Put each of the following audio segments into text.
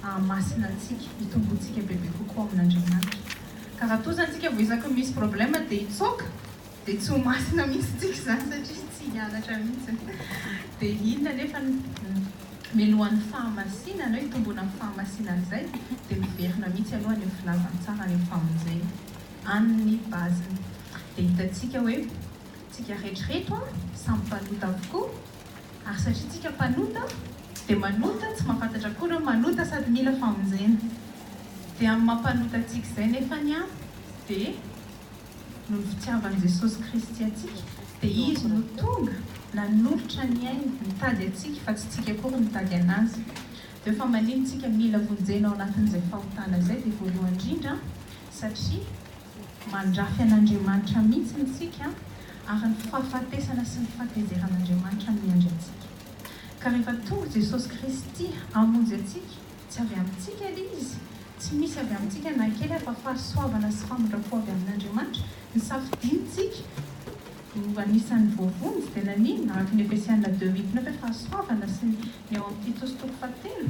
hahamasina antsika, hitombo antsika bebe kokoa amin'Andriamanitra. Ka raha toa izany isika vao isaky ny misy problème dia hitsoaka, dia tsy ho masina mihitsy isika izany satria tsy hianatra mihitsy. Dia inona anefa no melohan'ny fahamasinana hoe hitomboana amin'ny fahamasinana izay? Dia miverina mihitsy aloha any amin'ny filazantsara, any amin'ny famonjena. Any ny base-ny. Dia hitantsika hoe, tsika rehetra ireto samy mpanota avokoa. Ary satria tsika mpanota dia manota tsy mahafantatra akory hoe manota sady mila famonjena. Dia amin'ny maha mpanota antsika izay nefany an dia noho ny fitiavan'i Jesosy Kristy antsika dia Izy no tonga nanolotra ny ainy nitady antsika fa tsy tsika akory nitady an'Azy. Dia fa manino tsika mila vonjena ao anatin'izay fahotana izay dia voalohany indrindra satria Mandrafy an'Andriamanitra mihitsy isika ary ny fahafatesana sy ny fahatezeran'Andriamanitra miandry antsika. Ka rehefa tonga Jesosy Kristy hamonjy antsika, tsy avy amintsika ilay izy, tsy misy avy amintsika na kely aza fa fahasoavana sy famindram-po avy amin'Andriamanitra ny safidinintsika ho anisan'ny voavonjy dia naninona? Araka ny Efesiana deux huit neuf hoe fahasoavana sy ny ao amin'ny Titosy toko fahatelo.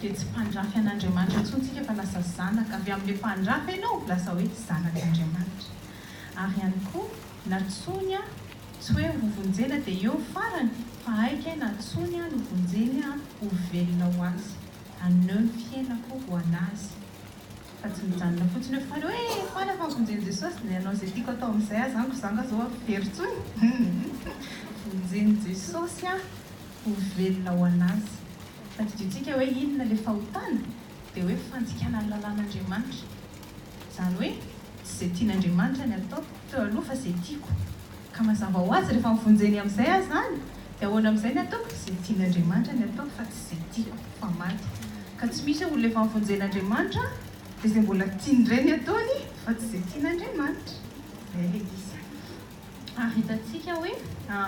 Dia tsy mpandrafy an'Andriamanitra intsony isika fa lasa zanaka, avy amin'ilay mpandrafy ianao lasa hoe zanak'Andriamanitra. Ary ihany koa natsoiny aho, tsy hoe ho vonjena dia eo ny farany fa aika natsoiny aho novonjeny aho ho velona ho Azy, haneho ny fiainako ho an'Azy. Fa tsy mijanona fotsiny eo fale hoe faly aho fa vonjen'i Jesosy dia hanao izay tiako atao amin'izay aza aho, koa za nga zao avy very intsony humm vonjen'i Jesosy aho ho velona ho an'Azy. Tadidintsika hoe inona ilay fahotana? Dia hoe fandikana ny lalàn'Andriamanitra. Izany hoe, tsy izay tian'Andriamanitra ny ataoko teo aloha fa izay tiako. Ka mazava ho azy, rehefa mivonjeny amin'izay aza izany, dia ahoana amin'izay ny ataoko? Izay tian'Andriamanitra ny ataoko fa tsy izay tiako, fa maty. Ka tsy misy hoe olona efa nivonjen'Andriamanitra dia izay mbola tiany indray ny ataony fa tsy izay tian'Andriamanitra. Izay ilay izy. Ary hitantsika hoe â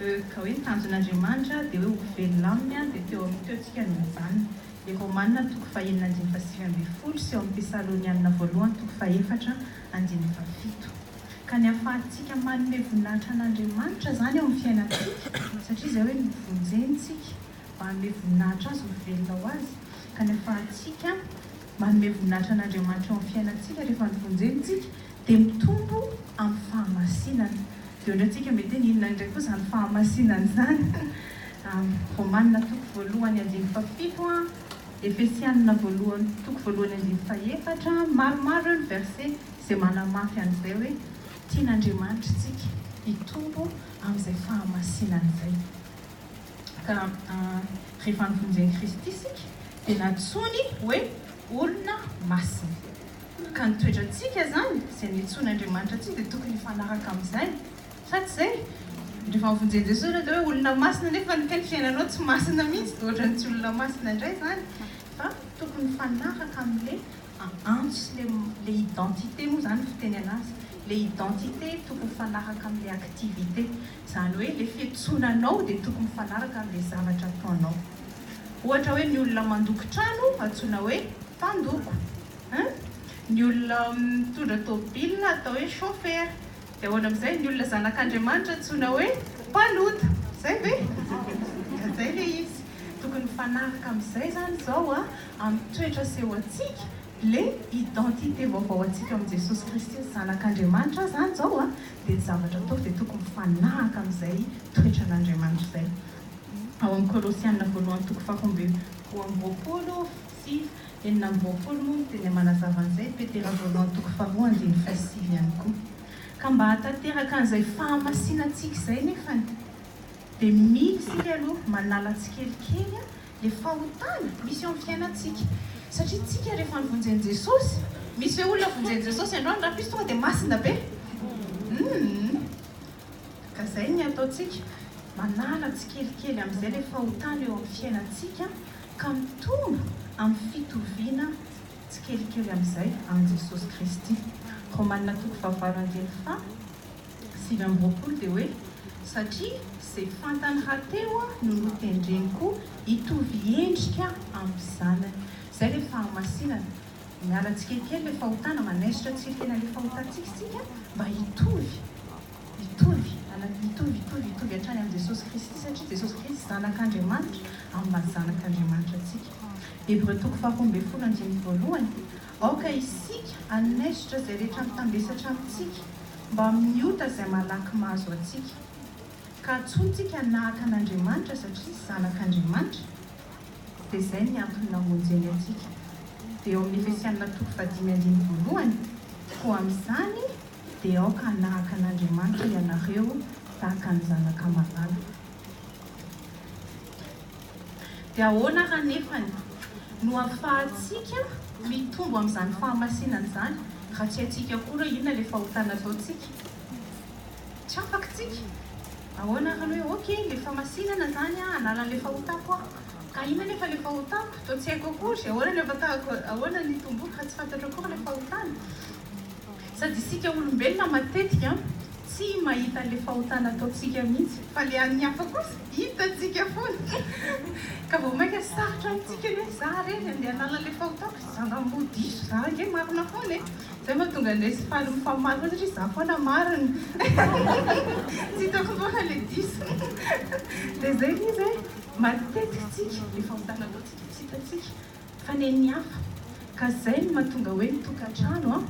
eux, ka hoe ny tanjon'Andriamanitra dia hoe ho velona aminy, dia teo amin'ny teo tsika no mijanona. I Romana toko fahenina andininy fahasivy ambin'ny folo sy ao amin'ny Tesalonianina voalohany toko fahefatra andininy fahafito. Ka ny ahafahantsika manome voninahitra an'Andriamanitra izany eo amin'ny fiainantsika, satria izay hoe novonjeny tsika mba hanome voninahitra Azy, ho velona ho Azy, ka ny ahafahantsika. Manome voninahitra an'Andriamanitra eo amin'ny fiainantsika rehefa nivonjeny isika dia mitombo amin'ny fahamasinana. Dia hoy isika mety hoe inona indray koa izany fahamasinana izany? Romanina toko voalohany andininy fahafito, Efesianina voalohany toko voalohany andininy fahefatra, maromaro ireo ny verset izay manamafy an'izay hoe tian'Andriamanitra isika hitombo amin'izay fahamasinana izay. Ka rehefa nivonjen'i Kristy isika dia nantsoiny hoe olona masina. Ka ny toetrantsika izany izay niantsoan'Andriamanitra antsika dia tokony hifanaraka amin'izany. Sa tsy izay? Rehefa nivonjen'i Jesoa ianao dia hoe olona masina nefa ny kay ny fiainanao tsy masina mihitsy dia ohatran'ny tsy olona masina indray izany. Fa tokony hifanaraka amin'ilay antso sy ilay identité moa izany ny fiteny an'azy. Ilay identité tokony hifanaraka amin'ilay activité. Izany hoe ilay fiantsonanao dia tokony mifanaraka amin'ilay zavatra ataonao. Ohatra hoe ny olona mandoko trano antsoina hoe mpandoko. Ny olona mitondra tômôbila atao hoe chauffeur. Dia ahoana amin'izay ny olona zanak'Andriamanitra antsoina hoe mpanota. Izay ve? Izay ilay izy. Tokony mifanaraka amin'izay izany izao amin'ny toetra asehoantsika Le identité vaovao antsika ao amin'i Jesosy Kristy ny zanak'Andriamanitra zany zao a, dia ny zavatra ataoko dia tokony mifanahaka amin'izay toetran'Andriamanitra izay. Ao amin'ny Kolosiana voalohany toko faha roa amby roa amby roapolo sy enina amby roapolo moa ny teny manazava an'izay, Petera voalohany toko faha roa andininy faha sivy ihany koa. Ka mba hahatanteraka an'izay fahamasinantsika izay nefany dia mila isika aloha manala tsikelikely a, Dia fahotana misy eo amin'ny fiainantsika. Satria tsika rehefa nivonjen'i Jesosy, misy ve olona vonjen'i Jesosy androany raha plus tonga dia masina be? Humm. Ka izay ny ataontsika, manala tsikelikely amin'izay ilay fahotana eo amin'ny fiainantsika ka mitombo amin'ny fitoviana tsikelikely amin'izay amin'i Jesosy Kristy. Romanina toko fahavalo andininy faha. Sivy amby roapolo dia hoe, satria izay fantany hateo no notendreny koa hitovy endrika amin'ny zanany. Izay ilay fahamasinana. Miala tsikelikely ilay fahotana, manaisotra tsirikena ilay fahotantsika isika mba hitovy, hitovy, hitovy, hitovy, hitovy hatrany amin'i Jesosy Kristy, satria Jesosy Kristy Zanak'Andriamanitra amin'ny maha Zanak'Andriamanitra antsika. Hebreo toko faharoa ambin'ny folo andininy voalohany. Aoka isika hanaisotra izay rehetra mitambesatra amintsika mba amin'ny ota izay malaky mahazo antsika. Ka antsointsika hanahaka an'Andriamanitra satria zanak'Andriamanitra, dia izay ny antony namonjeny antsika. Dia ao amin'ny Efesianina toko fahadimy andininy voalohany, Koa amin'izany dia aoka hanahaka an'Andriamanitra ianareo tahaka ny zanaka malala. Dia ahoana ary anefany no afahantsika mitombo amin'izany fahamasinana izany raha tsy haintsika akory hoe inona ilay fahotana ataontsika? Tsy afaka isika. Ahoana ary ny hoe ok ilay famasinana izany an, hanala an'ilay fahotako aho. Ka inona anefa ilay fahotako? Toa tsy haiko akory. Ahoana ny afatahako, ahoana ny itomboako raha tsy fantatro akory ilay fahotana? Sady isika olombelona matetika tsy mahita le fahotana ataontsika mihitsy fa le an'ny hafa kosa hitantsika foana ka vao maika sarotra amintsika ny hoe za re le andeha hanala le fahotako ry zandry amboa diso za ange marina foana e! zay mahatonga anay tsy faly mifamaly foana satria za foana marina tsy hitako foana le diso dia zay le izy hoe matetika tsika le fahotana ataontsika tsy hitantsika Fa nen'ny hafa. Ka izay no mahatonga hoe ny tokantrano an,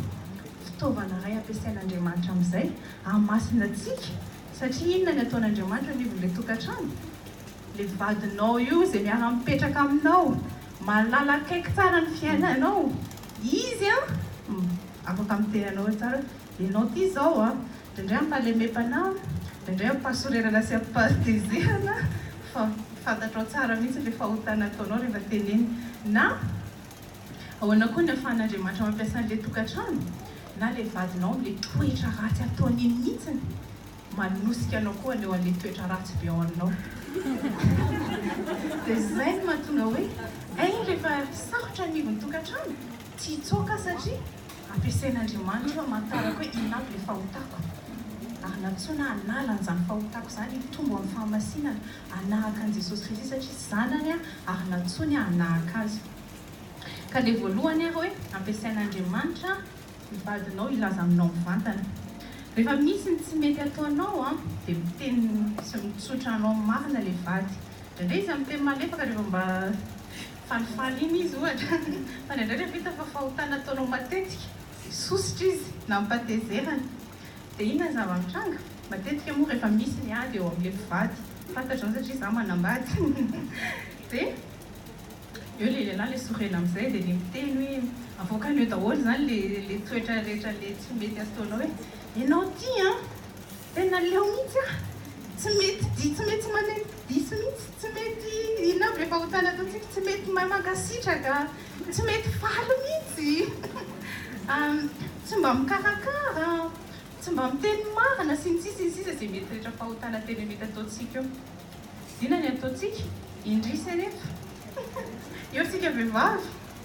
fitaovana iray ampiasain'Andriamanitra amin'izay hahamasina antsika, satria inona ny ataon'Andriamanitra anivon'ilay tokantrano? Ilay vadinao io izay miara-mipetraka aminao, mahalala akaiky tsara ny fiainanao, izy an, afaka miteny anao hoe tsara hoe, ianao ity izao an, Dendreo ampahalemem-panahy, dendreo ampahasorerana sy ampahatezerana fa fantatrao tsara mihitsy ilay fahotana ataonao rehefa teneno. Na ahoana koa ny ahafahan'Andriamanitra mampiasa an'ilay tokantrano na ilay vadinao amin'ilay toetra ratsy ataony iny mihitsy, manosika anao koa haneho an'ilay toetra ratsy be ao aminao. Dia izay no mahatonga hoe, Ein rehefa sarotra ny anivon'ny tokantrano, tsy hitsoaka aho satria. Ampiasain'Andriamanitra hamantarako hoe inona avy ilay fahotako. Hanatsoina hanala an'izany fahotako izany, hitombo amin'ny fahamasinana, hanahaka an'i Jesosy Kristy satria zanany aho ary natsoiny aho hanahaka Azy. Ka ilay voalohany ary hoe ampiasain'Andriamanitra ny vadinao hilaza aminao mivantana. Rehefa misy ny tsy mety ataonao dia miteny sy mitsotra anao marina ilay vady. Indraindray izy miteny malefaka rehefa mba Falifaly iny izy ohatra, fa indraindray rehefa hita fa fahotana ataonao matetika, dia sosotra izy na amim-pahatezerana. Dia inona ny zava-mitranga? Matetika moa rehefa misy ny ady eo amin'ilay mpivady, fantatro izany satria izaho manambady, dia eo ilay lehilahy ilay sorena amin'izay, dia ilay miteny hoe, avoakan'io daholo izany ilay toetra rehetra ilay tsy mety ataonao hoe, ianao ity an! Tena leo mihitsy ah! Tsy mety di tsy mety manaiky diso mihitsy, tsy mety inona aby le fahotana ataontsika, tsy mety mahay mankasitraka, tsy mety faly mihitsy, tsy mba mikarakara, tsy mba miteny marina sy ny sisa sy ny sisa ze mety rehetra fahotana tena mety ataontsika eo. Zina ny ataontsika, indrisy anefa eo tsika vehivavy.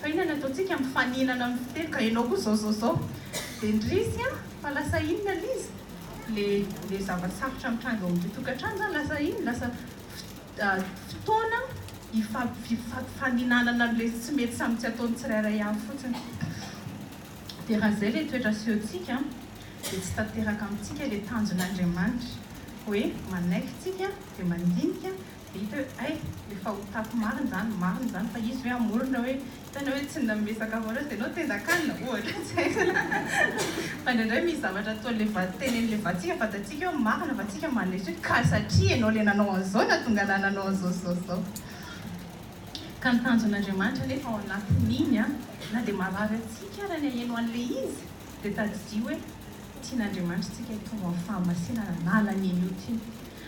Fa inona ny ataontsika mifaninana amin'ny fiteny ka ianao koa zao zao zao dia ndrisy a! Fa lasa inona l'izy? Le le zava-tsarotra mitranga ao amin'ity tokantrano izany lasa inona? Lasa fotoana ifampifaninanana an'ilay tsy mety samy tsy ataon'ny tsirairay avy fotsiny. Dia raha izay ilay toetra asehontsika dia tsy tanteraka amintsika ilay tanjon'Andriamanitra hoe manaiky tsika dia mandinika Dia hita hoe hay efa ho tato marina izany, marina izany fa izy ve hamorona hoe hitanao hoe tsy nanome sakafo anao izy dia ianao tendan-kanina ohatra tsy haiko fa indraindray misy zavatra ataon'ilay va, tenen'ilay vadintsika, vadantsika hoe marina fa tsika mandresy hoe ka satria ianao ilay nanao an'izao nahatonga anah nanao an'izao sy izao sy izao. Ka ny tanjon'Andriamanitra anefa ao anatin'iny an, na dia marary antsika ary ny haheno an'ilay izy dia tadidio hoe tian'Andriamanitra isika hitombo amin'ny fahamasinana na hanan'iny ota iny.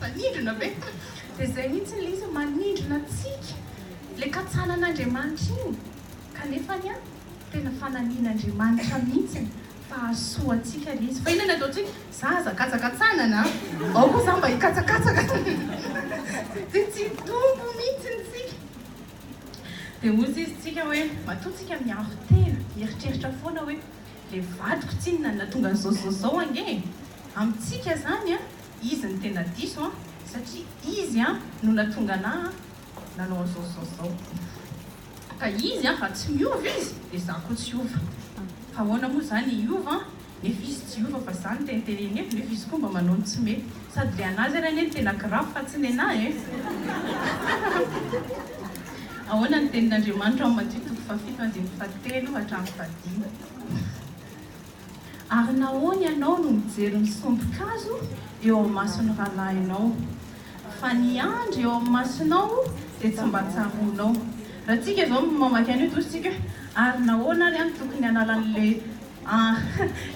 Manindrona ve? Dia izay mihitsy ilay izy, manindrona antsika ilay katsanan'Andriamanitra iny, kanefa anie tena fanamian'Andriamanitra mihitsy fa hahasoa antsika ilay izy. Fa inona no ataontsika? Za aza katsakatsanana an! Ao koa za mba hikatsakatsaka! Dia tsy hitombo mihitsy isika. Dia hoy izy tsika hoe, matoa tsika miaro tena, mieritreritra foana hoe ilay vadiko tsinona no nahatonga an'izao, izao, izao ange e! Amintsika zany an izy no tena diso an satria izy an no natonga anah an nanao anzao sy zao sy zao ka izy an raha tsy miova izy de za koa tsy hiova fa ahoana moa zany hiova an nefa izy tsy hiova fa za no teny teny eny nefa izy koa mba manao ny tsy mety sady le anazy ary anie no tena grave fa tsy nenah e ahoana ny tenin'Andriamanitra ao Matthieu toko fahafito andininy fahatelo hatramin'ny fahadimy. Ary nahoana ianao no mijery ny sompin-kazo eo amin'ny mason'ny rahalahinao, fa ny andry eo amin'ny masonao dia tsy mba tsaroanao? Raha tsika izao no mamaky an'io dia hoy tsika hoe, ary nahoana ary aho no tokony hanala an'ilay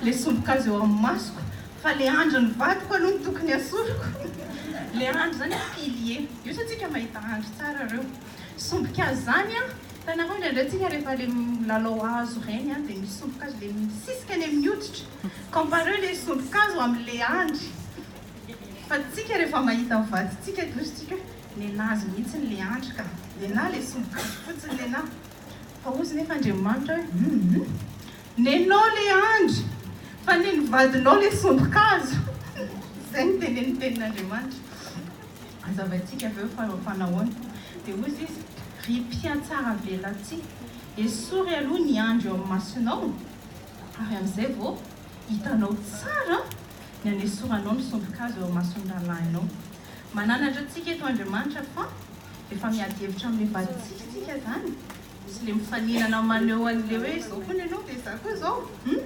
ilay sompin-kazo eo amin'ny masoko, fa ilay andrin'ny vadiko aloha no tokony hasoriko? Ilay andry izany hoe pilier, io sa tsika mahita andry tsara ireo? Sompin-kazo izany an! Fa nareo indraindray tsika rehefa le milalao hazo reny an de misy sombin-kazo le misisika eny amin'ny hoditra, compareo le sombin-kazo amin'le andry fa tsika rehefa mahita ny vadintsika de hozintsika hoe nenazy mihitsy le andry ka, nenà le sombin-kazo fotsiny nenà fa hozy nefa Andriamanitra hoe humm nenao le andry fa nen'ny vadinao le sombin-kazo, zay no tene ny tenin'Andriamanitra. Hazavaintsika avy eo fa fanahoana. Dia hoy Izy, Ry mpihatsaravelatsihy, esory aloha ny andry eo amin'ny masonao, ary amin'izay vao hitanao tsara ny hanesoranao ny sombin-kazo eo amin'ny mason'ny rahalahinao. Mananatra antsika eto Andriamanitra fa efa miady hevitra amin'ilay valitsihy isika izany, sy ilay mifaninana maneho an'ilay hoe izao hono ianao dia izaho koa izao. Hum!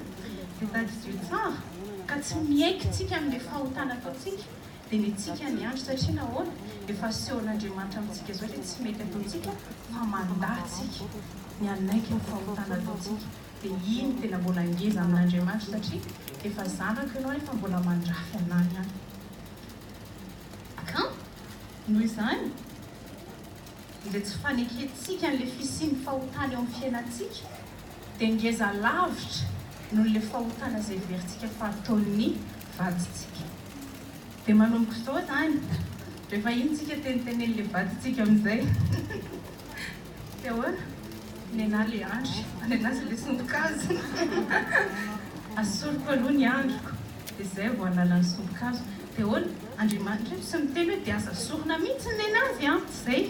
Dia tadidio tsara ka tsy miaiky tsika amin'ilay fahotana ataontsika. Dia mihitsika ny andro satria nahoana? Efa asehon'Andriamanitra amintsika izao ilay tsy mety ataontsika fa mandà tsika, ny hanaiky ny fahotana ataontsika. Dia iny tena mbola ngeza amin'Andriamanitra satria efa zanako ianao nefa mbola mandrafy anah ihany. Kan! Noho izany. izay tsy fanekentsika an'ilay fisian'ny fahotana eo amin'ny fiainantsika, dia ngeza lavitra noho ilay fahotana izay heverintsika fa ataon'ny vadintsika. Dia manomboka izao izany, rehefa iny tsika tenitenenin'ilay vadintsika amin'izay dia ahoana? nenà ilay andry, nenà sy ilay sombin-kazo, asoriko aloha ny andriko. Dia izay vao hanala ny sombin-kazo. Dia ahoana? Andriamanitra eto tsy miteny hoe dia aza sorona mihitsy ny nenazy an! Tsy izay.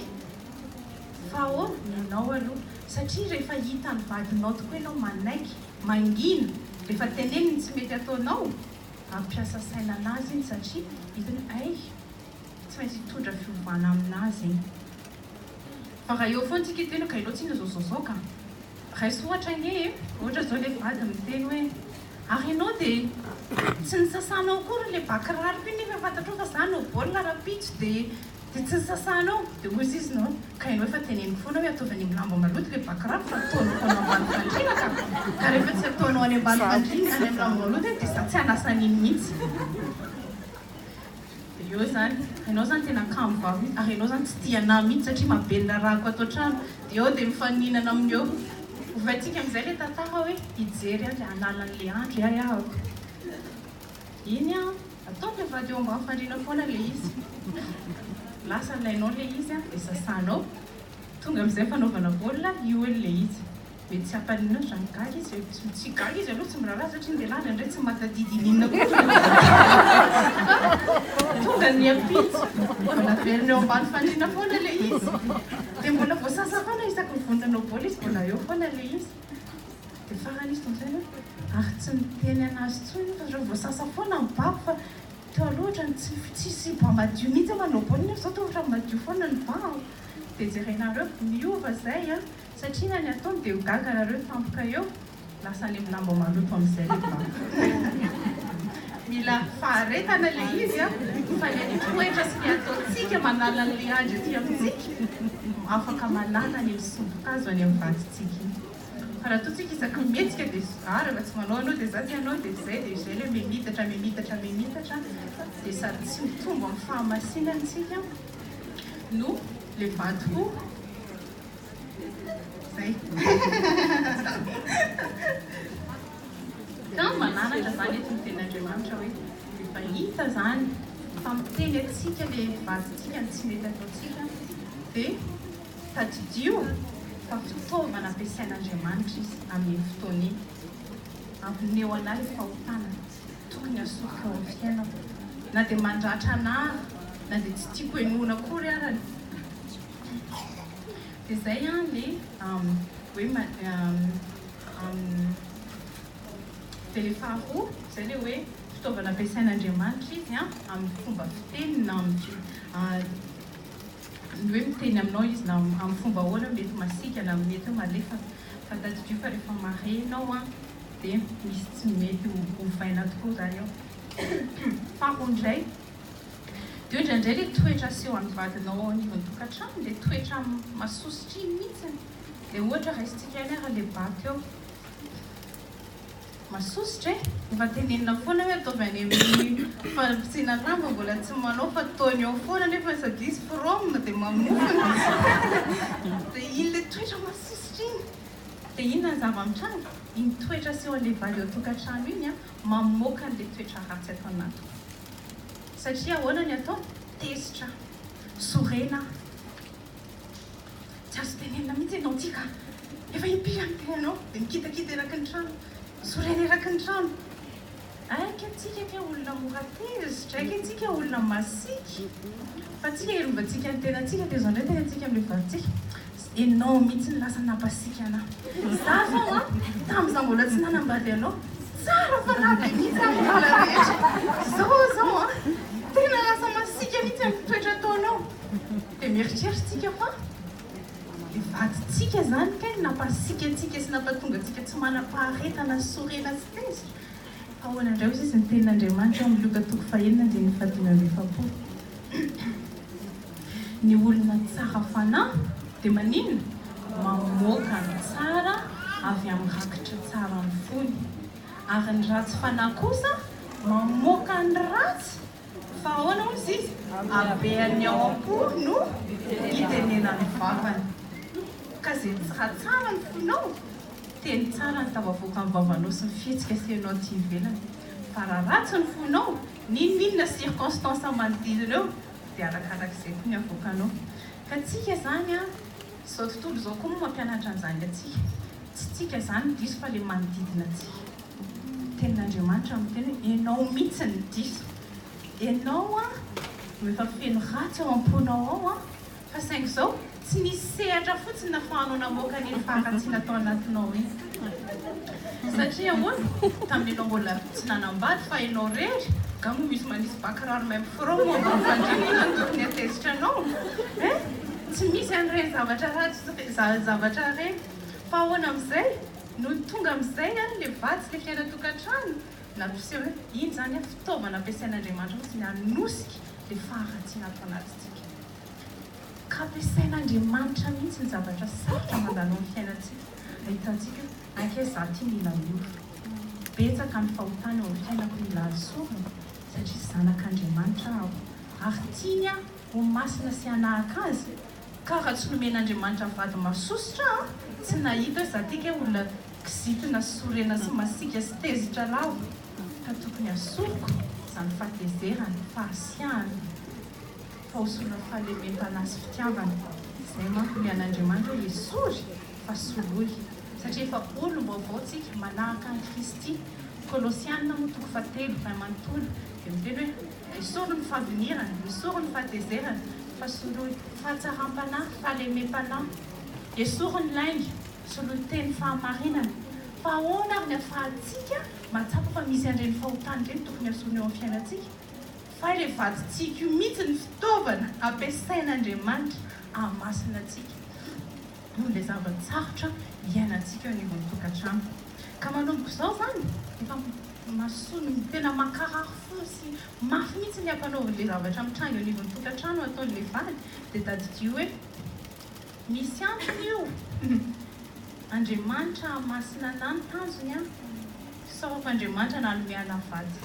Fa ahoana? Ny anao aloha. Satria rehefa hitan'ny vadinao tokoa ianao manaiky, mangina, rehefa teneniny ny tsy mety ataonao, hampiasa saina an'azy iny satria hitany hoe hay, tsy maintsy hitondra fiovana amin'azy iny. Fa raha eo foana isika hiteny hoe ka ianao tsinona izao izao izao ka? Raiso ohatra anie e! Ohatra izao ilay vady miteny hoe. Ary enao dia tsy nisasanao akory le ba kiraroko iny nefa fantatrao fa za no baolina rahampitso dia dia tsy nisasanao dia hoy izy no ka enao efa teneniko foana hoe ataovy any amin'ny lamba maloto le ba kiraro fa ataonao foana ambany fandriana ka ka rehefa tsy ataonao any ambany fandriana any amin'ny lamba maloto iny dia za tsy hanasa an'iny mihitsy. Eo izany, enao izany tena kamo vavy mihitsy, ary enao izany tsy tia anah mihitsy satria mabe ny rarahako ato an-trano, dia eo dia mifaninana amin'io eo. Ovaintsika amin'izay ilay tantara hoe hijery an-dry an'ala an'ilay andro iay ahako. Iny an, ataon'ny vehivavy eo ambany fandriana foana ilay izy. Lasa alainao ilay izy an, dia sasanao. Tonga amin'izay fanaovana baolina, io eo ilay izy. Mety tsy hampaliana azy raha migaga izy e. Tsy tsy higaga izy aloha tsy miraharaha satria ndeha lany indray tsy matadidy iny inona koa fa tonga niampitso. Mbola averina eo ambany fandriana foana ilay izy. Dia mbola voasasa foana isaky ny vonona hanao baolina izy mbola eo foana ilay izy. Dia farany izy tompoko izay hoe ary tsy niteny an'azy intsony io fa zareo voasasa foana ny babo fa teo aloha ohatran'ny tsy tsisy ba madio mihitsy aho manao baolina nefa izao toa ohatran'ny madio foana ny ba an. Dia jerenareo miova izay an. Satria na ny ataony dia ho gaga nareo tampoka eo lasa any am lamba maloto amizay le vato. Mila faharetana le izy a fa le ny toetra sy ny ataontsika manala an le andry aty amitsika afaka manala ny misombokazo any am vadintsika iny fa raha toa tsika isaky ny mihetsika de a raha tsy manao anao de za tsy anao de zay de zay le mimitatra mimitatra mimitatra de sady tsy mitombo am fahamasinany tsika no le vato ho Kamo manaraka zany eto ny tenin'Andriamanitra hoe rehefa hita zany fa miteny antsika le vadintsika ny tsy mety ataontsika de tadidio fa fitaovana ampiasain'Andriamanitra izy amin'iny fotoana iny amoneho anah le fahotana tokony hasoriko ao amin'ny fiainako na de mandratra anah na de tsy tiako henoina akory arany Dia zay an le hoe Dia le faharoa zay le hoe fitaovana ampiasain'Andriamanitra izy an amin'ny fomba fiteny na ny hoe miteny aminao izy na amin'ny fomba ahoana mety masiaka na mety hoe malefaka fa tadidio fa rehefa marenao an dia misy tsy mety ovaina tokoa zany ao faharoa indray Dia hoy indraindray ilay toetra aseho an'ny vadinao ao anivon'ny tokantrano dia toetra mahasoa sitriny mihitsiny. Dia ohatra raisintsika ihany ary ilay bato eo. Mahasoa sitra e! Efa tenenina foana hoe ataovy any amin'ny fanapitsihina lamba mbola tsy manao fa ataony ao foana nefany sady izy from dia mamofona. Dia iny ilay toetra mahasoa sitra iny. Dia inona ny zava-mitranga? Iny toetra aseho an'ilay vady eo an-tokantrano iny mamoaka an'ilay toetra ratsy ato anaty. Satria ahoana ny atao? Tezitra aho. Sorena aho. Tsy azo tenenina mihitsy ianao ity ka. Efa impiry aho miteny anao dia mikitakita eraky ny trano. Sorena eraky ny trano. Aika antsika kay olona mora tezitra, aika antsika olona masiaka. Fa antsika hiarovantsika ny tenantsika, tezanao ny tenantsika amin'ilay valintsika. Enao mitsy no lasa nampasiaka anah. Za zao an, tam za mbola tsy nanambady anao, tsara fanahy be mitsy aho am hala rehetra. Zao zao an, tena lasa masiaka mitsy am toetra ataonao. De mieritreritra tsika fa le vadintsika zany kay no nampasiaka antsika sy nampatonga antsika tsy manam-paharetana sy sorena sy tezitra. Ahoana indray hozy izy ny tenin' Andriamanitra ao amin'ny Lioka toko fahenina andininy fahadimy amby efapolo? Ny olona tsara fanahy dia maninona? Mamoaka ny tsara avy amin'ny rakitra tsaran'ny fony, ary ny ratsy fanahy kosa mamoaka ny ratsy Fa ahoana hozy izy? Habean'ny ao am-po no hitenenan'ny vavany. Ka izay tsy hatsara ny fonao, teny tsara ny tafavoaka amin'ny vavanao sy ny fihetsika asehonao aty ivelany. Fa raha ratsy ny fonao, n'inon'inona circonstances manodidina eo dia arakarak'izay koa ny avoakanao. Ka antsika izany an, izao tontolo izao koa moa mampianatra an'izany antsika. Tsy tsika zany ny diso fa le manodidina antsika. Tenin'Andriamanitra miteny hoe enao mitsy ny diso. Enao an no efa feno ratsy ao amponao ao an fa saingy zao tsy nisy sehatra fotsiny nafahanao namoaka an'iny faharatsiana tao anatinao iny. Satria ahoana? Tamin'ny enao mbola tsy nanambady fa enao rery nga mo misy manisy ba kiraro même front mo ambany fandriana inona no tokony hatezitra anao eh? Tsy misy an'ireny zavatra ratsy zavatra ireny. Fa ahoana amin'izay? Nony tonga amin'izay ary ilay vady sy ilay fiainan-tokantrano, nampiseho hoe iny izany fitaovana ampiasain'Andriamanitra fotsiny hanosika ilay faharatsiana ato anatintsika. Ka ampiasain'Andriamanitra mihitsy ny zavatra sarotra mandalo amin'ny fiainantsika, ahitantsika aiky hoe za ty mila ora, betsaka ny fahotana eo amin'ny fiainako, mila azy sorona satria zanak'Andriamanitra aho ary tiany aho ho masina sy hanahaka Azy Ka raha tsy nomen'Andriamanitra vady masosotra an, tsy nahita hoe za ty kay olona kizitina sy sorena sy masiaka sy tezitra lava ka tokony hasoroko zany fahatezerana, fahasiahana fa hosorina fahalemem-panahy sy fitiavana, zay manko ny an'Andriamanitra hoe esory fa soloy satria efa olom-baovao tsika manahaka an'i Kristy, Kolosiana moa toko fahatelo ray manontolo dia miteny hoe. Esory ny favinirana, esory ny fahatezerana, fa soloy fahatsaram-panahy, fahalemem-panahy. Esory ny lainga, soloy teny fahamarinana. Fa ahoana ary ny ahafahantsika mahatsapa fa misy an'ireny fahotana ireny tokony hasolo eo amin'ny fiainantsika? Fa ilay vadin-tsiky io mihitsy no fitaovana ampiasain'Andriamanitra hahamasina antsika. noho ilay zava-tsarotra iainantsika eo anivon'ny tokantrano. Ka manomboka izao izany, efa mason, tena mankarary fo sy mafy mihitsy ny ampanaovin'ilay zavatra mitranga eo anivon'ny tokantrano ataon'ilay vady, dia tadidio hoe, Misy antony io! Andriamanitra masina anà ny tanjony an! Sao fa Andriamanitra nanome anà vady.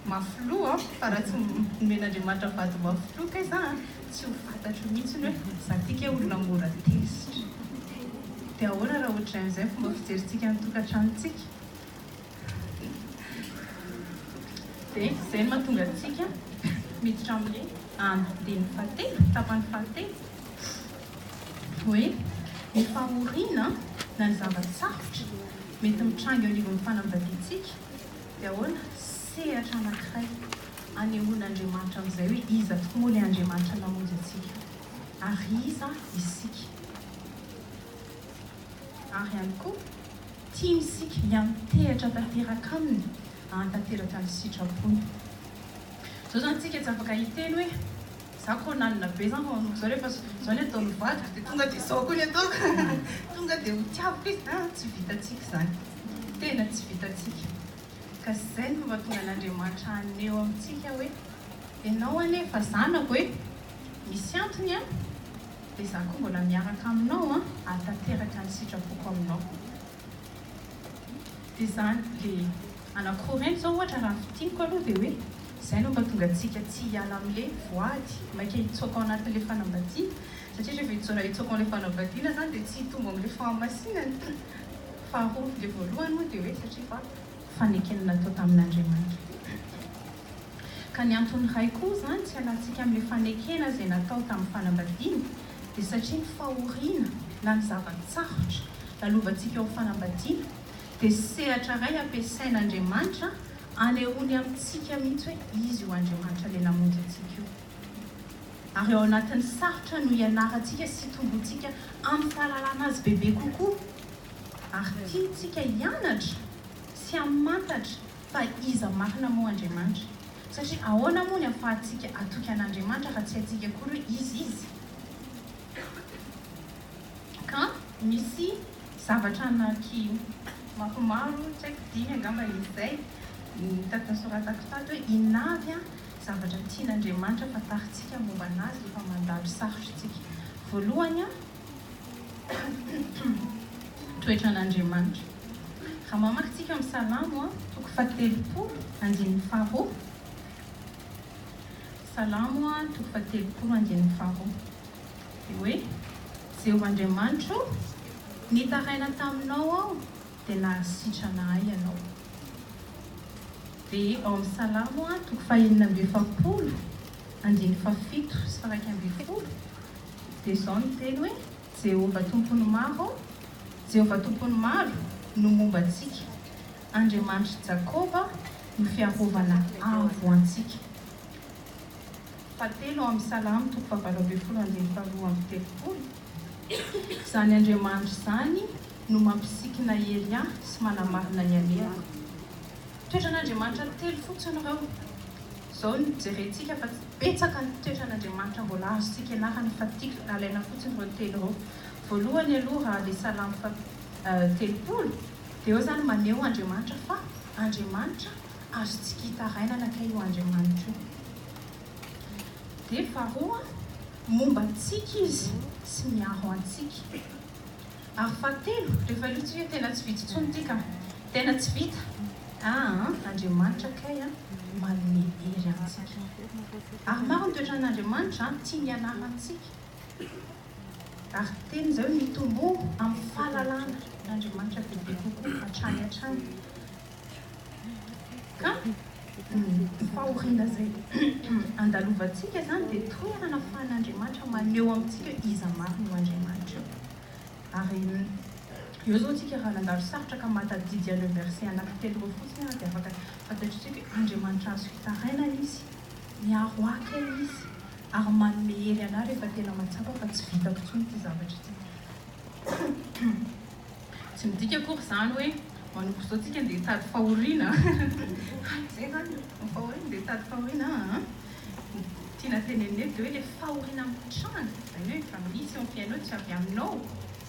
Mafiloha aho fa raha tsy nomen'Andriamanitra vady mafiloha kay za a, tsy ho fantatro mihitsy ny hoe za ty kay olona mora tezitra. Dia ahoana raha ohatrain'izay ny fomba fijerintsika ny tokantranontsika? Dia izay no mahatonga antsika miditra amin'ny andidinin'ny fahatelo, tapany fahatelo, hoe ny fahoriana na ny zava-tsarotra mety mitranga eo anivon'ny fanambadiantsika. Dia ahoana? Sehatra anankiray anehoan'Andriamanitra amin'izay hoe iza tokoa moa ilay Andriamanitra namonjy antsika, ary iza isika. Ary ihany koa, tiany isika hiantehatra tanteraka Aminy, hahatanteraka ny sitrapony. Izao izany tsika tsy afaka hiteny hoe, Izaho koa nanana be izany fa manomboka izao rehefa izao ny ataon'ny vadiko dia tonga dia izao koa ny ataoko, tonga dia ho tiaviko izy. Tsy vitantsika izany. Ny tena tsy vitantsika. Ka zay no mahatonga an'Andriamanitra haneho amintsika hoe, Ianao anie efa zanako e! Misy antony an! Dia za koa mbola miaraka aminao an! Hahatanteraka ny sitrapoko aminao. Dia zany le ana Korento zao ohatra raha ny fidiniko aloha dia hoe, zay no mahatonga antsika tsy hiala amle voady, maika hitsoaka ao anatinle fanambadiana, satria rehefa hijaona hitsoaka ao amle fanambadiana zany dia tsy hitombo amle fahamasinana. Faharoa, ilay voalohany moa dia hoe satria fa fanekena natao tamin'Andriamanitra izy ity. Ka ny antony iray koa izany tsy alantsika amin'ilay fanekena izay natao tamin'ny fanambadiana dia satria ny fahoriana na ny zava-tsarotra lalovantsika eo amin'ny fanambadiana dia sehatra iray ampiasain'Andriamanitra anehoany amintsika mihitsy hoe izy io Andriamanitra ilay namonjy antsika io. Ary ao anatin'ny sarotra no ianarantsika sy itomboantsika amin'ny fahalalana Azy bebe kokoa. Ary tiantsika hianatra sy hamantatra fa iza marina moa Andriamanitra. Satria ahoana moa ny ahafahantsika hatoky an'Andriamanitra raha tsy haintsika akory hoe iza Izy? Ka misy zavatra anaky maromaro, tsy haiko dimy angamba izay, no tadidy nosoratako tato hoe, Inona avy Zavatra tian'Andriamanitra fantarintsika momba an'Azy rehefa mandalo sarotra isika. Voalohany, toetra an'Andriamanitra. Raha mamaky isika amin'ny Salamo, toko fahatelopolo, andininy faharoa. Salamo, toko fahatelopolo, andininy faharoa. Dia hoe, Jehovah Andriamanitro o, nitaraina taminao aho dia nahary sitrana ahy ianao. Dia ao amin'ny Salamo a, toko fahenina amby efapolo, andininy fahafito sy faraika ambin'ny folo, dia izao no teny hoe, Jehovah Tompon'ny maro, Jehovah Tompon'ny maro no momba antsika, Andriamanitr'i Jakoba no fiarovana avo antsika. Fahatelo ao amin'ny Salamo, toko fahavalo ambin'ny folo, andininy faharoa amby telopolo, Izany Andriamanitra izany, no mampisikina hery ahy sy manamarina ny alehako. Toetran'Andriamanitra telo fotsiny ireo. Izao no jerentsika fa betsaka ny toetran'Andriamanitra mbola azontsika ianarana fa tiako alaina fotsiny ireo telo ireo. Voalohany aloha raha le salamo fa telopolo de eo zany maneho Andriamanitra fa Andriamanitra azontsika itarainana kay io Andriamanitra io. De faharoa momba antsika izy sy miaro antsika. Ary fahatelo, rehefa io tsy hoe tena tsy vitsy intsony ity ka. Tena tsy vita. Ah an, Andriamanitra kay an, manome hery antsika. Ary maro ny toetran'Andriamanitra an, tiany hianara antsika. Ary teny izay hoe mitomboa amin'ny fahalalana an'Andriamanitra bebe kokoa, hatrany hatrany. Ka ny fahoriana izay andalovantsika izany dia toerana ahafahan'Andriamanitra maneho amintsika iza marina io Andriamanitra io. Ary eo izao isika raha nandalo sarotra ka mahatadidy ireo versets anankitelo ireo fotsiny ary dia afaka fantatr'i tsika hoe Andriamanitra azo fitarainana Izy, miaro akany Izy ary manome hery anah rehefa tena mahatsapa fa tsy vitako intsony ity zavatra ity. Tsy midika akory izany hoe manomboka izao tsika ndeha hitady fahoriana an! Tsy izay izany e! Ny fahoriana ndeha hitady fahoriana an! Ny tiana tenenina eto dia hoe ilay fahoriana mitranga, izany hoe efa misy eo amin'ny fiainanao, tsy avy aminao,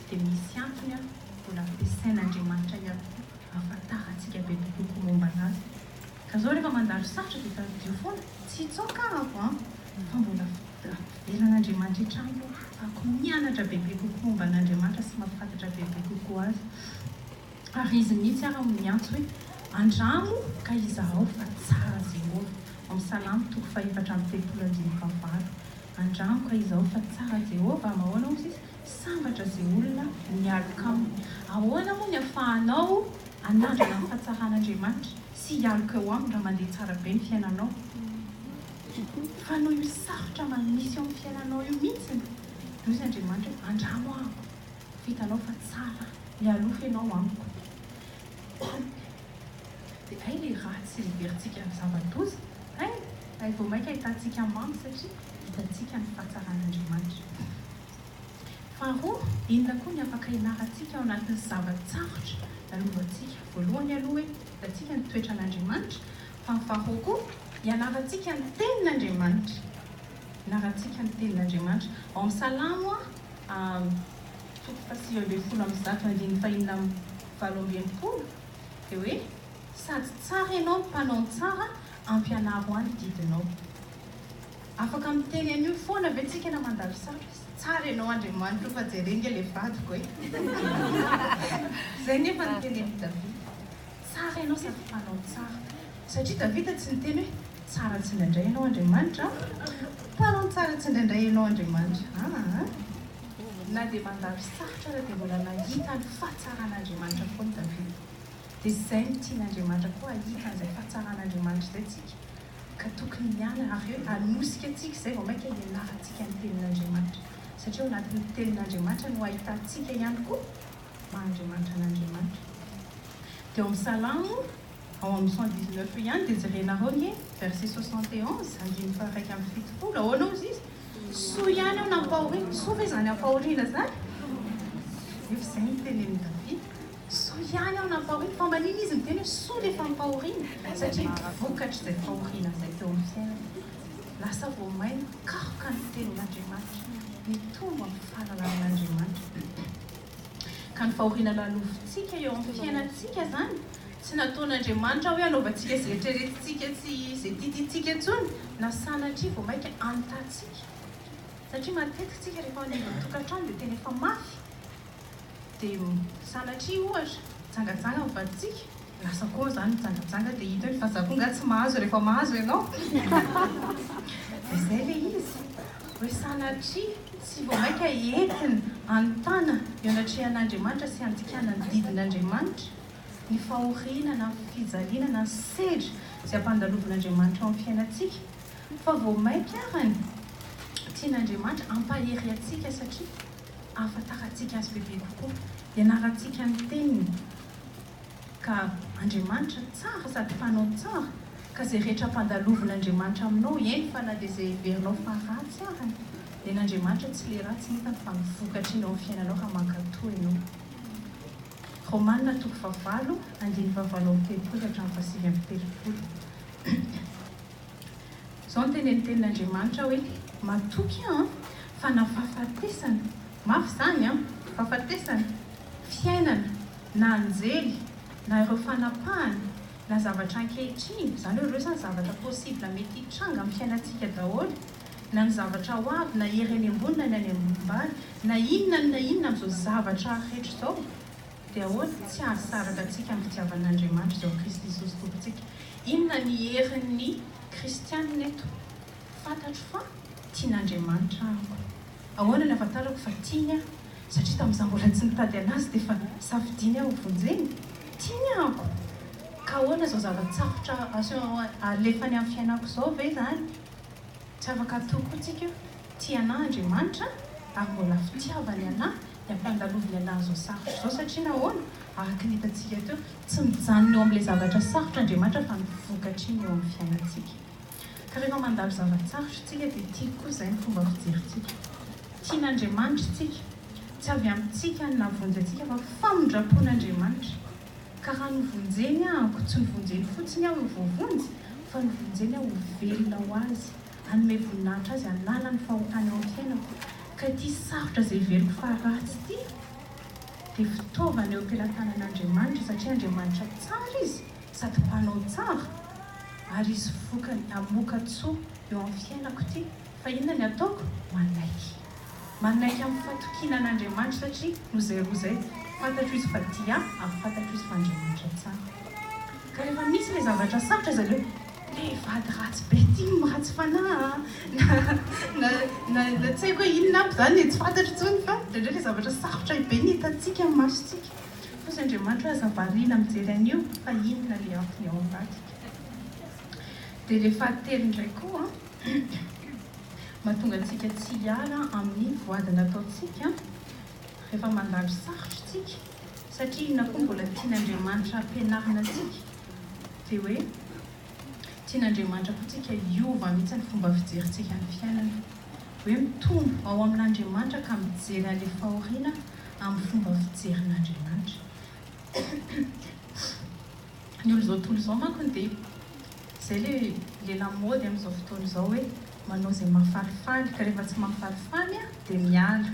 dia misy antony an! Mbola ampiasain'Andriamanitra ihany koa hahafantarantsika bebe kokoa momba anazy. Ka zao refa mandalo sarotra de tadidio foana, tsy hitsaoka aho an! fa mbola velan'Andriamanitra etrano ako mianatra bebe kokoa momba an'Andriamanitra sy mafatatra bebe kokoa azy, ary izy mihitsy ara no miantso hoe andramo ka izahao fa tsara Jehovah, ao salamo toko faha efatra amby telopolo andininy faha valo, andramo ka izahao fa tsara Jehovah, mahoana ozy izy? Sambatra ze olona mialoka aminy. Ahoana moa ny afahanao anandrana ny fahatsaran'Andriamanitra sy hialoka eo aminy raha mandeha tsara be ny fiainanao? Fa noho io sarotra misy eo amin'ny fiainanao io mihitsy no hoy Andriamanitra hoe andramo amiko fa hitanao fa tsara mialoha ianao amiko. Dia hay ilay ratsy sy heverintsika ho zava-doza, hay hay vao mainka ahitantsika mamo satria hitantsika ny fahatsaran'Andriamanitra. Faharoa, inona koa ny afaka ianarantsika ao anatin'ny zava-tsarotra lalohantsika? Voalohany aloha hoe hitantsika ny toetran'Andriamanitra, fa ny faharoa koa ianarantsika ny Tenin'Andriamanitra. Ianarantsika ny Tenin'Andriamanitra. Ao amin'ny Salamo toko fahasivy ambin'ny folo amby zato andininy fahenina amby valo amby enimpolo dia hoe, Sady tsara ianao, mpanao ny tsara, ampianaro ahy ny didinao. Afaka miteny an'io foana ve tsika na mandalo satroka? Tsara ianao Andriamanitra o fa jereo nge le vadiko e! Zay nefa ny tenenin'i Davida. Tsara ianao sady mpanao tsara. Satria Davida tsy niteny hoe, tsara tsindraindray ianao Andriamanitra a! Mpanao tsara tsindraindray ianao Andriamanitra aa! Na dia mandalo sarotra aza dia mbola nahita ny fahatsaran'Andriamanitra foana Davida. Dia zay no tian'Andriamanitra koa hahita an'izay fahatsaran'Andriamanitra izay tsika. Ka tokony miala hareo hanosika antsika izay vao mainka hianarantsika ny tenin'Andriamanitra satria ao anatin'ny tenin'Andriamanitra no ahitantsika ihany koa maha Andriamanitra an'Andriamanitra. Dia ao amin'ny Salamo ao amin'ny cent dix neuf io ihany dia jerenareo anie verset soixante et onze, andininy faharaika amby fitopolo, ahoana hozy izy? Soa ihany aho nampahoriana, soa ve izany ampahoriana izany? Nefa izay no tenenin'i Davida. Soa ihany aho nampahoriana, fa mba nino izy niteny hoe soa le fampahoriana, satria vokatr'izay fahoriana izay teo amin'ny fiainany, lasa vao mainka karoka ny tenin'Andriamanitra, nitombo amin'ny fahalalan'Andriamanitra be be. Ka ny fahoriana lalovintsika eo amin'ny fiainantsika izany, tsy nataon'Andriamanitra hoe hanaovantsika izay eritreretintsika sy izay tiatiantsika intsony, na sanatria vao mainka anontantsika, satria matetika isika rehefa any ivelan'ny tokantrano dia tena efa mafy, Dia sanatria ohatra jangajanga ny vadintsika, lasa koa zany mijangajanga dia hita hoe fa za koa nga tsy mahazo rehefa mahazo ianao dia zay ilay izy hoe sanatria tsy vao maika entina anontana eo anatrehan'Andriamanitra sy andikana ny didin'Andriamanitra ny fahoriana na fijaliana na ny sedra izay ampandalovin'Andriamanitra eo amin'ny fiainantsika fa vao maika arany tian'Andriamanitra ampahery antsika satria Ahafantarantsika Azy bebe kokoa, ianarantsika ny Teniny, ka Andriamanitra tsara sady Mpanao tsara, ka izay rehetra ampandalovin' Andriamanitra aminao, eny fa na dia izay heverinao fa ratsy ary, nen' Andriamanitra tsy le ratsy nitany fa ny vokatr' iny ao amin'ny fiainanao raha mankatò ianao. Romana toko fahavalo, andininy fahavalo amby telopolo ka hatramin'ny fahasivy amby telopolo. Izao no tenenintenin'Andriamanitra hoe, Matoky aho fa na fahafatesana, mafy izany an, fahafatesana, fiainana, na anjely, na ireo fanapahana, na zavatra ankehitriny, izany hoe ireo izany zavatra possible mety hitranga amin'ny fiainantsika daholo, na ny zavatra ho avy, na hery any ambony na ny any ambany, na inona na inona amin'izao zavatra rehetra izao, Dia ahoana no tsy hahasaraka antsika amin'ny fitiavan'Andriamanitra izao i Kristy Jesosy Tompontsika? Inona ny herin'ny kristianina eto? Fantatro fa tian'Andriamanitra amiko. Ahoana no ahafantarako fa tiany ahy? Satria tamin'izaho mbola tsy nitady an'Azy dia efa safidiany aho hovonjeny? Tiany aho ako! Ka ahoana izao zava-tsarotra alefany amin'ny fiainako izao ve izany? Tsy afaka hatory koa tsika. Tia anà Andriamanitra ary mbola fitiavany anà ny ampiandaloviny anà an'izao sarotra izao satria nahoana? Araka ny hitantsika teo, tsy mijanona eo amin'ilay zavatra sarotra Andriamanitra fa ny vokatriny eo amin'ny fiainantsika. Ka rehefa mandalo zava-tsarotra isika dia tiako koa izay ny fomba fijerintsika. Tian'Andriamanitra isika. Tsy avy amintsika ny nahavonjy antsika fa famindram-pon'Andriamanitra. Ka raha novonjeny aho, koa tsy novonjeny fotsiny aho ho voavonjy fa novonjeny aho ho velona ho Azy Hanome voninahitra Azy hanala ny fahotana eo amin'ny fiainako. Ka ity sarotra izay heveriko fa ratsy ity dia fitaovana eo am-pelatanan'Andriamanitra, satria Andriamanitra tsara Izy sady Mpanao tsara, ary hisy vokany hamoaka tsoa eo amin'ny fiainako ity. Fa inona ny ataoko? Manaiky. Manaiky amin'ny fatokiana an'Andriamanitra satria noho izay roa izay, fantatro izy fa Dia ary fantatro izy fa Andriamanitra tsara. Ka rehefa misy ilay zavatra sarotra izy avy eo, ilay vady ratsy be tim, ratsy fanahy a, na, na, na, tsy haiko hoe inona aby izany e, tsy fantatro intsony fa indraindray ilay zavatra sarotra be ny hitantsika amin'ny masontsika. Fa hoy Andriamanitra hoe aza variana mijery an'io fa inona ilay antony ao ambadika. Dia ilay fahatelo indray koa. mahatonga antsika tsy hiala amin'ny voady nataontsika rehefa mandalo sarotra isika, satria inona koa mbola tian'Andriamanitra hampianarina antsika dia hoe tian'Andriamanitra koa tsika hiova mihitsy ny fomba fijerintsika ny fiainana, hoe mitombo ao amin'Andriamanitra ka mijery any fahoriana amin'ny fomba fijerin'Andriamanitra. Ny olon'izao tontolo izao mankony dia izay ilay ilay lamaody amin'izao fotoana izao hoe manao izay mahafalifaly ka rehefa tsy mahafalifaly aho dia miala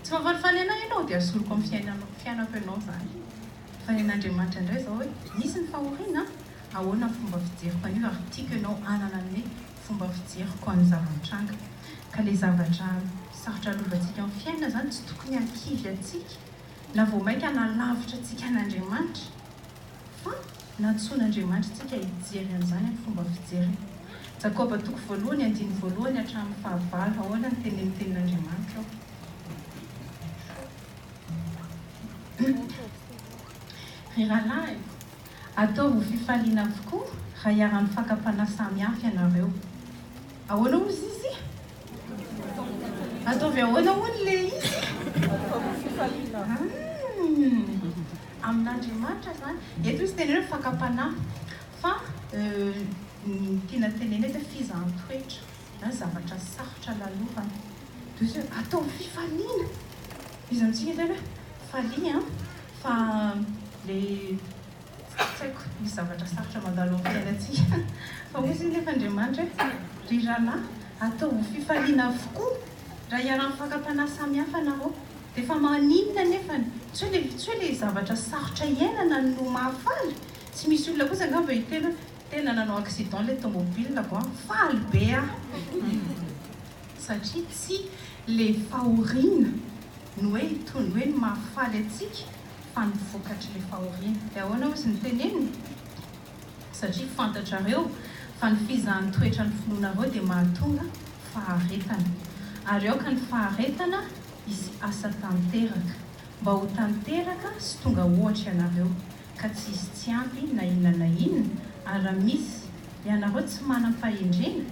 tsy mahafalifaly anah ianao dia asoriko amin'ny fiainanao fiainako ianao izany fa ny an'Andriamanitra indray izao hoe misy ny fahoriana ahoana ny fomba fijeriko an'io ary tiako ianao hanana ny hoe fomba fijeriko an'ny zava-mitranga ka ilay zavatra sarotra lovantsika amin'ny fiainana izany tsy tokony hankivy antsika na vao mainka na lavitra antsika an'Andriamanitra Fa nantsoin'Andriamanitrintsika hijery an'izany amin'ny fomba fijeriny. Jakoba toko voalohany andininy voalohany hatramin'ny fahavalo Ahoana no tenen'ny tenin'Andriamanitra ao? Ry rahalahy, ataovy ho fifaliana avokoa raha hiara-mifaka-panahy samy hafa ianareo. Ahoana hozy izy? Ataovy ahoana hono ilay izy? Ataovy fifaliana. Amin'Andriamanitra izany. Eto misy teny hoe fakam-panahy. Fa ny tiana tenenina eto hoe fizaham-toetra na zavatra sarotra lalovana. Dia izy hoe ataovy fifaliana. Izy amintsika izany hoe falia an, fa ilay Tsy haiko, misy zavatra sarotra mandalo amin'ny fiainantsika. Fa hoy izy nefa Andriamanitra hoe, Ry rahalahy, ataovy fifaliana avokoa raha iharan'ny fakam-panahy samihafa nareo. Dia fa maninona anefa ny. Tsy hoe ilay, tsy hoe ilay zavatra sarotra iainana no mahafaly. Tsy misy olona kosa angamba hiteny hoe, Tena nanao accident ilay tomobilako an, faly be aho. Satria tsy ilay fahoriana no hoe hitondra hoe ny mahafaly antsika. fa ny vokatry ny fahoriana. Dia ahoana hozy ny teneniny? Satria fantatrareo fa ny fizahan'ny toetra ny finoanareo dia mahatonga faharetana, ary aoka ny faharetana hisy asa tanteraka, mba ho tanteraka sy tonga ohatra ianareo, ka tsy hisy tsy ampy na inona na inona, ary raha misy ianareo tsy manam-pahendrena,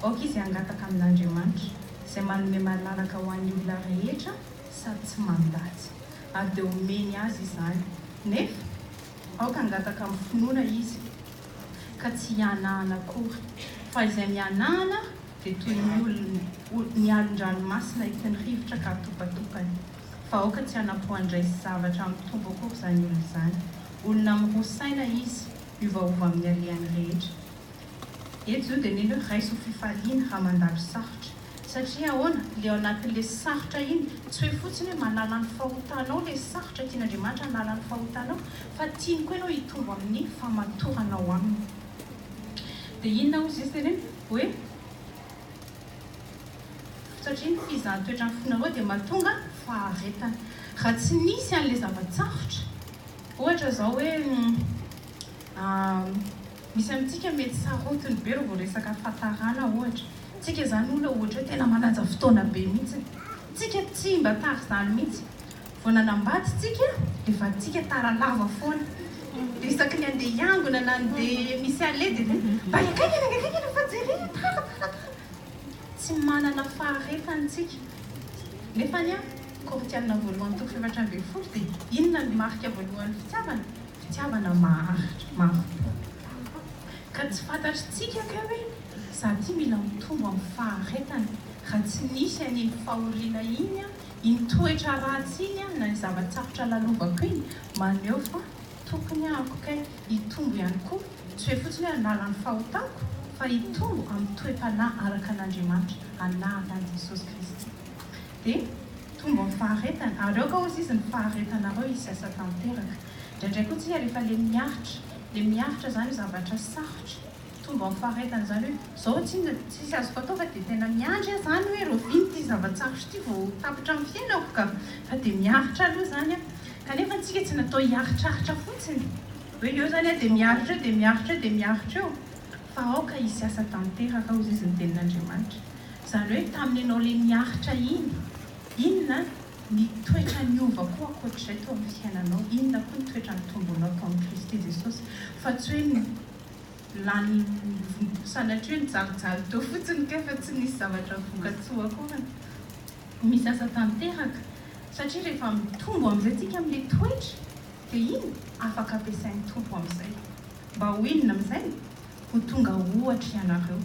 aoka izy hangataka amin'Andriamanitra, izay manome malalaka ho an'ny olona rehetra sady tsy mandatsy. ary dia omeny azy izany, nefa aoka hangataka amin'ny finoana izy, ka tsy hihanahana akory, fa izay mihanahana dia toy ny olona, ny alon-dranomasina entin'ny rivotra ka atopatopany, fa aoka tsy hanapohan-dresy zavatra amin'ny Tompo akory izany olona izany, olona miroa saina izy, miovaova amin'ny alehany rehetra. Eto zao dia mino raiso fifaliana raha mandalo sarotra. Satria ahoana? Ilay ao anatin'ilay sarotra iny, tsy hoe fotsiny hoe manala ny fahotanao ilay sarotra, tian'Andriamanitra hanala ny fahotanao, fa tiany koa ianao hitombo amin'ny famatoranao Aminy. Dia inona hozy Izy? Teneno hoe, Satria ny fizahan'ny toetran'ny fonareo dia mahatonga faharetana. Raha tsy nisy an'ilay zava-tsarotra, ohatra izao hoe, Misy amintsika mety sarotiny be raha vao resaka fatarana ohatra. Tsika izany olona ohatra hoe tena manaja fotoana be mihitsy. Tsika tsy mba tara izany mihitsy. Vao nanambady tsika dia vadintsika tara lava foana. Dia isaky ny handeha hiangona na handeha misy aller dia hoe mba hiankaiky any angakaika aloha fa jerena tara tara tara. Tsy manana faharetany tsika. Nefany an, Korintiana voalohany toko fahefatra ambin'ny folo dia inona ny marika voalohan'ny fitiavana? Fitiavana maharitra, mafy be. Ka tsy fantatr'tsika kay hoe za ty mila mitombo amin'ny faharetana raha tsy nisy an'iny fahoriana iny an, iny toetra ratsy iny an, na ny zava-tsarotra lalovako iny, maneho fa tokony ahako kay hitombo ihany koa, tsy hoe fotsiny hoe hanala ny fahotako fa hitombo amin'ny toe-panahy araka an'Andriamanitra, anaran'i Jesosy Kristy. Dia tonga ny faharetany, ary aoka hozy izy ny faharetanareo hisasa tanteraka. Indraindray koa tsika rehefa le miaritra, le miaritra zany hoe zavatra sarotra, tonga ny faharetany izany hoe zao tsinona dia tsisy azoko atao fa dia tena miandry aho zany hoe rahoviana ity zava-tsarotra ity vao ho tapitra amin'ny fiainako ka, fa dia miaritra aloha zany aho. Kanefa antsika tsy natao hiaritraritra fotsiny, hoe eo zany aho dia miaritra eo, dia miaritra eo, dia miaritra eo. Fa aoka hisy asa tanteraka, hoy izy, ny tenin'Andriamanitra. Izany hoe, tamin'ny ianao ilay niaritra iny, inona ny toetra niova koa ankoatr'izay teo amin'ny fiainanao? Inona koa ny toetra nitombonao tao amin'i Kristy Jesosy? Fa tsy hoe lany, sanatria hoe nijalijaly teo fotsiny kay fa tsy nisy zavatra voka-tsoa akory. Misy asa tanteraka, satria rehefa mitombo amin'izay isika amin'ilay toetra, Dia iny afaka ampiasain'ny Tompo amin'izay. Mba ho inona amin'izay? Ho tonga ohatra ianareo.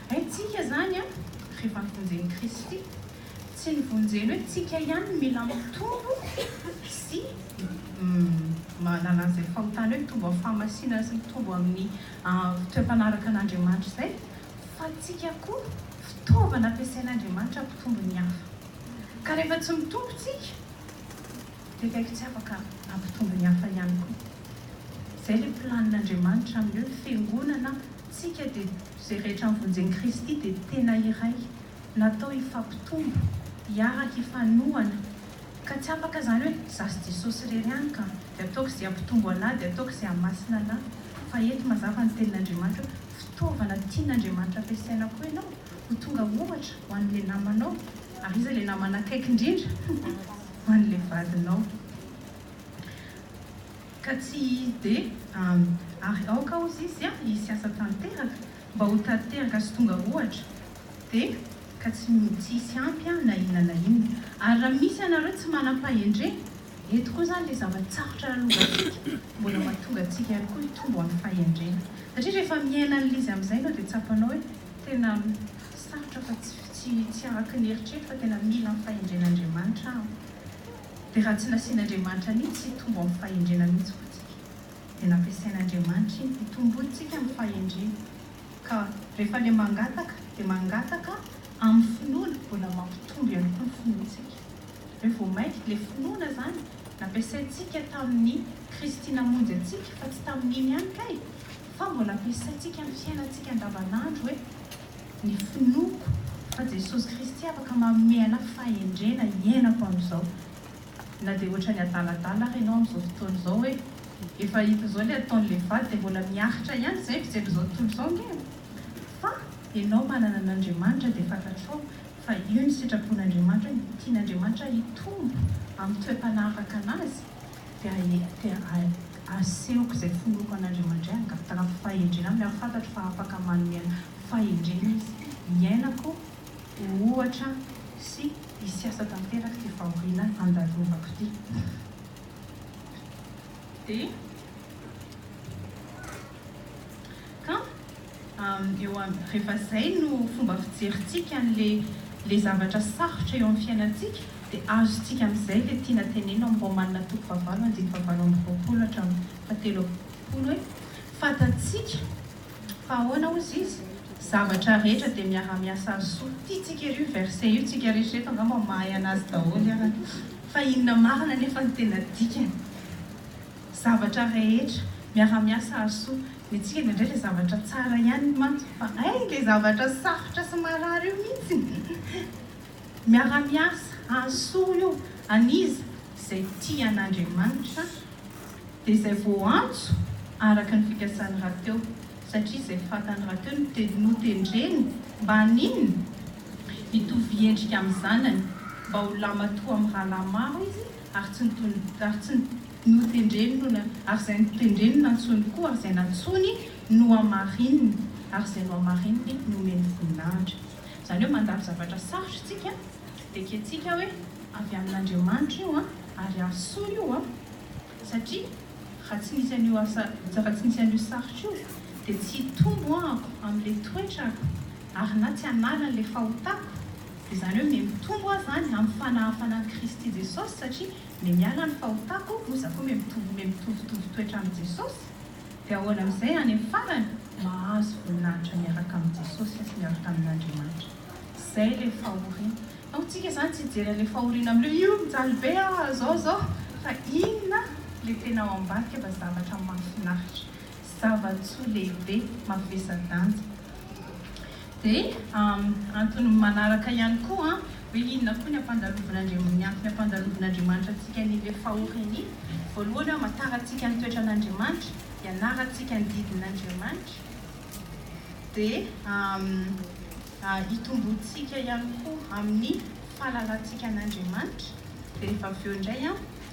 Haintsika izany an, rehefa novonjen'i Kristy. Tsy novonjeny hoe tsika ihany no mila mitombo sy manala an'izay fahotana hoe mitombo amin'ny fahamasinana sy mitombo amin'ny toe-mpanaraka an'Andriamanitra izay, fa tsika koa fitaovana ampiasain'Andriamanitra hampitombo ny hafa. Ka rehefa tsy mitombo tsika. Tekaiko tsy afaka hampitombo ny hafa ihany koa. Izay ilay plan Andriamanitra amin'ny hoe fiangonana tsika dia izay rehetra mivonjeny Kristy dia tena iray natao hifampitombo hiaraka hifanohana ka tsy afaka izany hoe za sy Jesosy irery ihany ka dia ataoko izay hampitombo anah dia ataoko izay hamasina anah fa eto mazava ny tenin'Andriamanitra hoe fitaovana tian'Andriamanitra ampiasaina koa ianao ho tonga ohatra ho an'ilay namanao ary iza ilay namana akaiky indrindra? Faly le vadinao ka tsy izy de ary aoka ozy izy a hisy asa tanteraka mba ho tateraka sy tonga ohatra de ka tsy hisy ampy a na inona na inona ary raha misy ianareo tsy manam-pahendrena eto koa zany le zava-tsarotra lalovantsika mbola mahatonga antsika ihany koa hitombo amin'ny fahendrena satria rehefa miaina an'lizy amin'izay ianao de tsapanao hoe tena sarotra fa tsy Tsy tsy araka ny eritreritro fa tena mila ny fahendren'Andriamanitra aho. Dia raha tsy nasian'Andriamanitra an'iny tsy hitombo amin'ny fahendrena mihitsy koa tsika. Dia nampiasain'Andriamanitra iny hitombointsika amin'ny fahendrena. Ka rehefa ilay mangataka dia mangataka amin'ny finoana mbola mampitombo ihany koa ny finoantsika. Hoe vao mainka ilay finoana izany nampiasaintsika tamin'ny Kristy namonjy antsika fa tsy tamin'iny ihany kay fa mbola ampiasaintsika amin'ny fiainantsika andavanandro hoe. Ny finoako fa Jesosy Kristy afaka manome anà fahendrena hiainako amin'izao. Na dia ohatran'ny adaladala ary ianao amin'izao fotoana izao hoe, efa hita izao ilay ataon'ilay vady dia mbola miaritra ihany izay mijery izao tontolo izao ange e! Fa ianao manana an'Andriamanitra dia fantatrao fa io ny sitrapon'Andriamanitra, tian'Andriamanitra hitombo amin'ny toe-panahy araka an'Azy. Dia dia asehoko izay finoako an'Andriamanidray angah, taranako fahendrena aminy, ary fantatro fa afaka manome ahy fahendrena Izy hiainako ho ohatra sy hisiasa tanteraka ity fahoriana handalovanako ity. Dia. Ka eo aby, rehefa zay no fomba fijerintsika an'le le zavatra sarotra eo amin'ny fiainantsika dia azontsika amin'izay le tiana teneno amin'ny Romanina toko fahavalo andininy fahavalo amby roapolo hatramin'ny fahatelo amby roapolo hoe, fantatsika fa ahoana hozy izy? zavatra rehetra dia miara-miasa azo soa. Tiantsika ery io verset io, tsika eritrereto angamba mahay anazy daholo ary fa inona marina anefa ny tena dikany? Zavatra rehetra miara miasa Hasoa. Ny antsika indraindray le zavatra tsara ihany mantsy fa hay le zavatra sarotra sy marary io mintsy Miara miasa Hasoa io an'iza izay tia an'Andriamanitra dia izay voantso araka ny fikasan'ny rahateo satria izay fatan'ny rahateo no notendreny mba haninona? hitovy endrika amin'ny zanany mba ho lamatoa amin'ny rahalahy maro izy ary tsy notony, ary tsy notendrenona, ary izay notendrenona ntsony koa, ary izay nantsony nohamarininy, ary izay nohamarininy nomeny voninahitra. Izany hoe mandalo zavatra sarotra isika, dia ekentsika hoe avy amin'Andriamanitra io an, ary asa soa io an, satria raha tsy nisy an'io asa, raha tsy nisy an'io sarotra io, dia tsy hitombo ahako amin'ilay toetrako, ary na tsy hanala an'ilay fahotako, Izany hoe miha mitombo aho izany amin'ny fanahafanan'i Kristy Jesosy satria miha miala ny fahotako moa izaho koa miha mitovy miha mitovitovy toetra amin'i Jesosy dia ahoana amin'izay any amin'ny farany mahazo voninahitra miaraka amin'i Jesosy sy miaraka amin'Andriamanitra. Izay ilay fahoriana. Fa hoy tsika izany tsy hijery an'ilay fahoriana amin'ilay hoe io mijaly be aho ah zao zao fa inona ilay tena ao ambadika fa zavatra mahafinaritra. Zava-tsoa lehibe mavesa-danja. Dia antony manaraka ihany koa hoe inona koa ny ampandalovina ny antony ampandalovina Andriamanitra antsika ny ilay fahoaka iny, voalohany amantarantsika ny toetran' Andriamanitra, ianarantsika ny didin' Andriamanitra, dia itomboantsika ihany koa amin'ny fahalalantsika an' Andriamanitra, dia rehefa avy eo indray an.